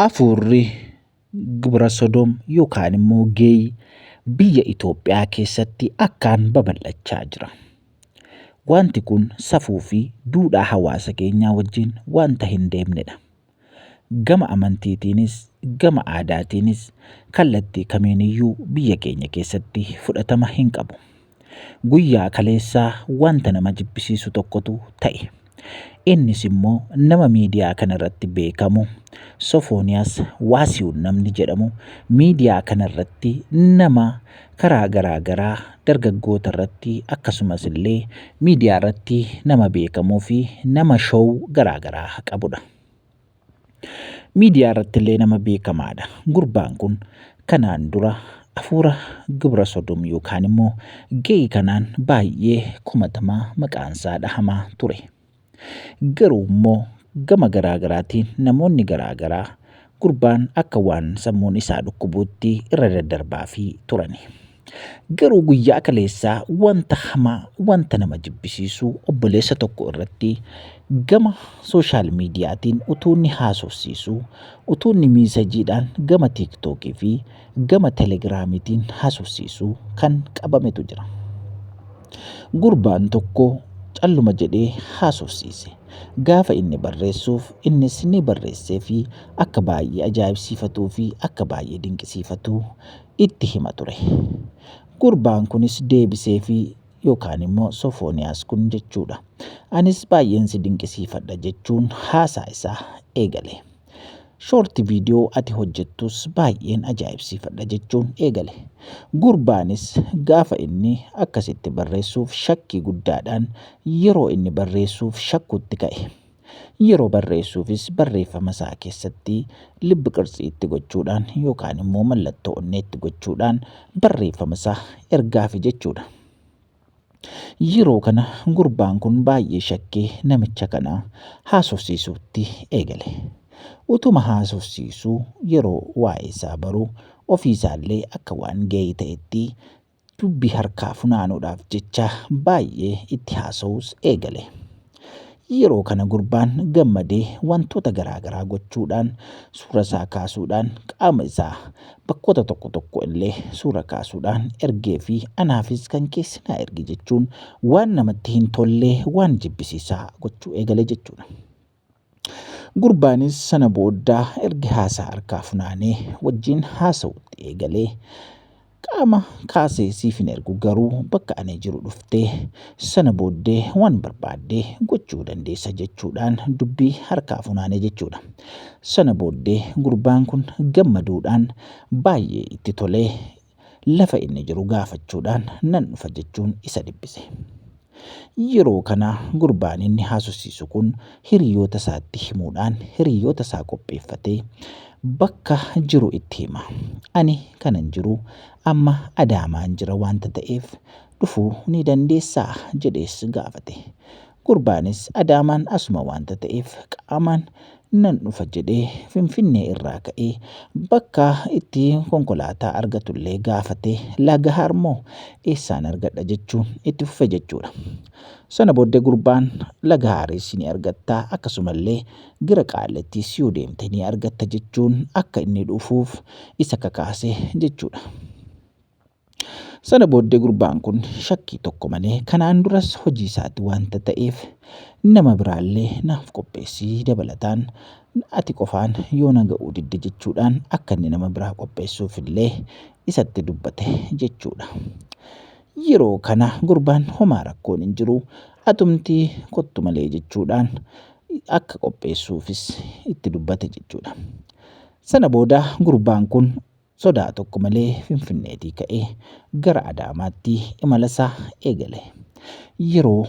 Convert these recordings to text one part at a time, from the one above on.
Afuurri gibira sodoom yookaan immoo geeyi biyya Itoophiyaa keessatti akkaan babal'achaa jira. Wanti kun safuu fi duudhaa hawaasa keenyaa wajjin wanta hin deemnedha. Gama amantiitiinis, gama aadaatiinis kallattii kamiiniyyuu biyya keenya keessatti fudhatama hin qabu. Guyyaa kaleessaa wanta nama jibbisiisu tokkotu ta'e. Innis immoo nama miidiyaa kanarratti beekamu Sofooniyaas Waasiwun namni jedhamu miidiyaa kanarratti nama karaa garaa garaa dargaggoota irratti akkasumas illee miidiyaa irratti nama beekamuu fi nama show garaa garaa qabudha. Miidiyaa irrattillee nama beekamaadha. Gurbaan kun kanaan dura afuura gibra sodom yookaan immoo gay kanaan baay'ee komatamaa maqaan isaa dhahamaa ture. Garuu immoo gama garaa garaatiin namoonni garaa garaa gurbaan akka waan sammuun isaa dhukkubuutti irra daddarbaa fi turani. Garuu guyyaa kaleessaa wanta hamaa, wanta nama jibbisiisu obboleessa tokko irratti gama sooshaal miidiyaatiin utuu inni haasofsiisu, utuu inni miisajiidhaan gama tiiktookii fi gama telegiraamiitiin haasofsiisu kan qabametu jira. Gurbaan tokko calluma jedhee haasofsiise. Gaafa inni barreessuuf innis ni barreessee fi akka baay'ee ajaa'ibsiifatuu fi akka baay'ee dinqisiifatu itti hima ture. Gurbaan kunis deebiseefii yookaan immoo Sofooniyaas kun jechuudha. Anis baay'een si dinqisiifadha jechuun haasaa isaa eegale. Shoorti viidiyoo ati hojjettus baay'een ajaa'ibsiifadha jechuun eegale. Gurbaanis gaafa inni akkasitti barreessuuf shakkii guddaadhaan yeroo inni barreessuuf shakkuutti ka'e. Yeroo barreessuufis barreeffama isaa keessatti lib qirtsii itti gochuudhaan yookaan immoo mallattoo onnee itti gochuudhaan barreeffama isaa ergaafi jechuudha. Yeroo kana gurbaan kun baay'ee shakkee namicha kana haasofsiisuutti eegale. Utuma haasofsiisuu yeroo waa'ee isaa baru ofii isaallee akka waan ga'ee ta'etti Dubbii harkaa funaanuudhaaf jecha baay'ee itti haasa'uus eegale. Yeroo kana gurbaan gammadee wantoota garaa garaa gochuudhaan suura isaa kaasuudhaan qaama isaa bakkoota tokko tokko illee suura kaasuudhaan ergee fi anaafis kan keessi naa ergi jechuun waan namatti hin tollee waan jibbisiisaa gochuu eegale jechuudha. Gurbaanis sana boodda erga haasaa harkaa funaanee wajjin haasa'uutti eegalee qaama kaasee siif hin ergu garuu bakka ani jiru dhuftee sana booddee waan barbaaddee gochuu dandeessa jechuudhaan dubbii harkaa funaanee jechuudha. Sana booddee gurbaan kun gammaduudhaan baay'ee itti tolee lafa inni jiru gaafachuudhaan nan dhufa jechuun isa dhiphise. Yeroo kana gurbaan inni haasofsiisu kun hiriyoota isaatti himuudhaan hiriyoota isaa qopheeffatee bakka jiru itti hima. Ani kanan jiru amma Adaamaan jira wanta ta'eef dhufuu ni dandeessaa jedhees gaafate. Gurbaanis Adaamaan asuma waanta ta'eef qaamaan nan dhufa jedhee Finfinnee irraa ka'ee bakka itti konkolaataa argatullee gaafatee Lagahaarmoo eessaan argadha jechuun itti fufe jechuudha. Sana booddee gurbaan Lagahaaris ni argatta akkasumallee gara Qaallittiis yoo deemte ni argatta jechuun akka inni dhufuuf isa kakaase jechuudha. Sana booddee gurbaan kun shakkii tokko malee kanaan duras hojii isaati wanta ta'eef nama biraallee naaf qopheessii dabalataan ati qofaan yoo na ga'uu didde jechuudhaan akka inni nama biraa qopheessuuf illee isatti dubbate jechuudha. Yeroo kana gurbaan homaa rakkoon hin jiru atumtii kottu malee jechuudhaan akka qopheessuufis itti dubbate jechuudha. Sana booda gurbaan kun sodaa tokko malee Finfinneetii ka'ee gara Adaamaatti imalasaa eegale. Yeroo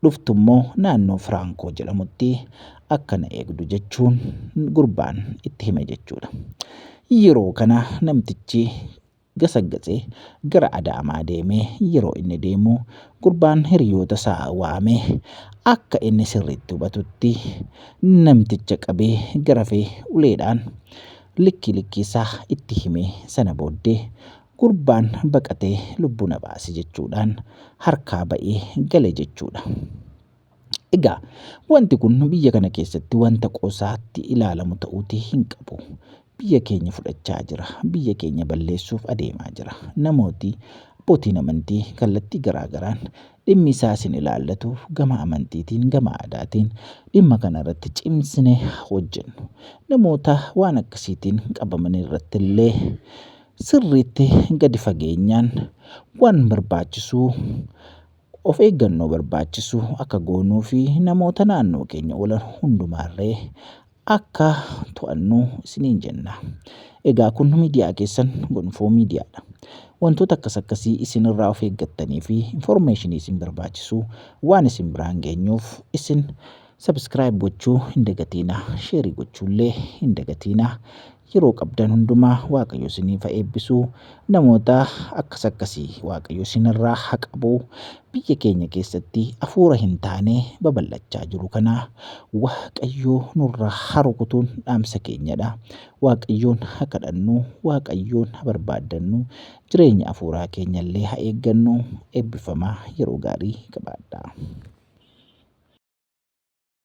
dhuftu immoo naannoo Firaankoo jedhamutti akka na eegdu jechuun gurbaan itti hime jechuudha. Yeroo kana namtichi gasaggasee gara Adaamaa deemee yeroo inni deemu gurbaan hiriyoota isaa waamee akka inni sirriitti hubatutti namticha qabee garafee uleedhaan likkii likkii isaa itti himee sana booddee gurbaan baqatee lubbuu na baase jechuudhaan harkaa ba'ee gale jechuudha. Egaa wanti kun biyya kana keessatti wanta qoosaatti ilaalamu ta'uutii hin qabu. Biyya keenya fudhachaa jira. Biyya keenya balleessuuf adeemaa jira. Namooti abbootiin amantii kallattii garaagaraan Dhimmi isaa isin ilaallatu gama amantiitiin, gama aadaatiin dhimma kana irratti cimsinee hojjennu. Namoota waan akkasiitiin qabaman irratti illee sirriitti gadi fageenyaan waan barbaachisu of eeggannoo barbaachisu akka goonuu fi namoota naannoo keenya oolan hundumaa illee akka to'annu isiniin jenna. Egaa kun miidiyaa keessan gonfoo miidiyaadha. Wantoota akkas akkasii isinirraa of eeggattanii fi informeeshinii isin barbaachisu waan isin biraan geenyuuf isin subscribe gochuu hin dagatiina, sheerii gochuullee hin dagatiina. yeroo qabdan hundumaa waaqayyo isiniif haa eebbisu namoota akkas akkasii waaqayyo isinirraa haa qabu biyya keenya keessatti afuura hin taane babal'achaa jiru kana waaqayyo nurraa haa rukutuun dhaamsa keenyadha waaqayyoon haa kadhannu waaqayyoon haa barbaaddannu jireenya afuuraa keenyallee haa eeggannu eebbifamaa yeroo gaarii qabaadhaa.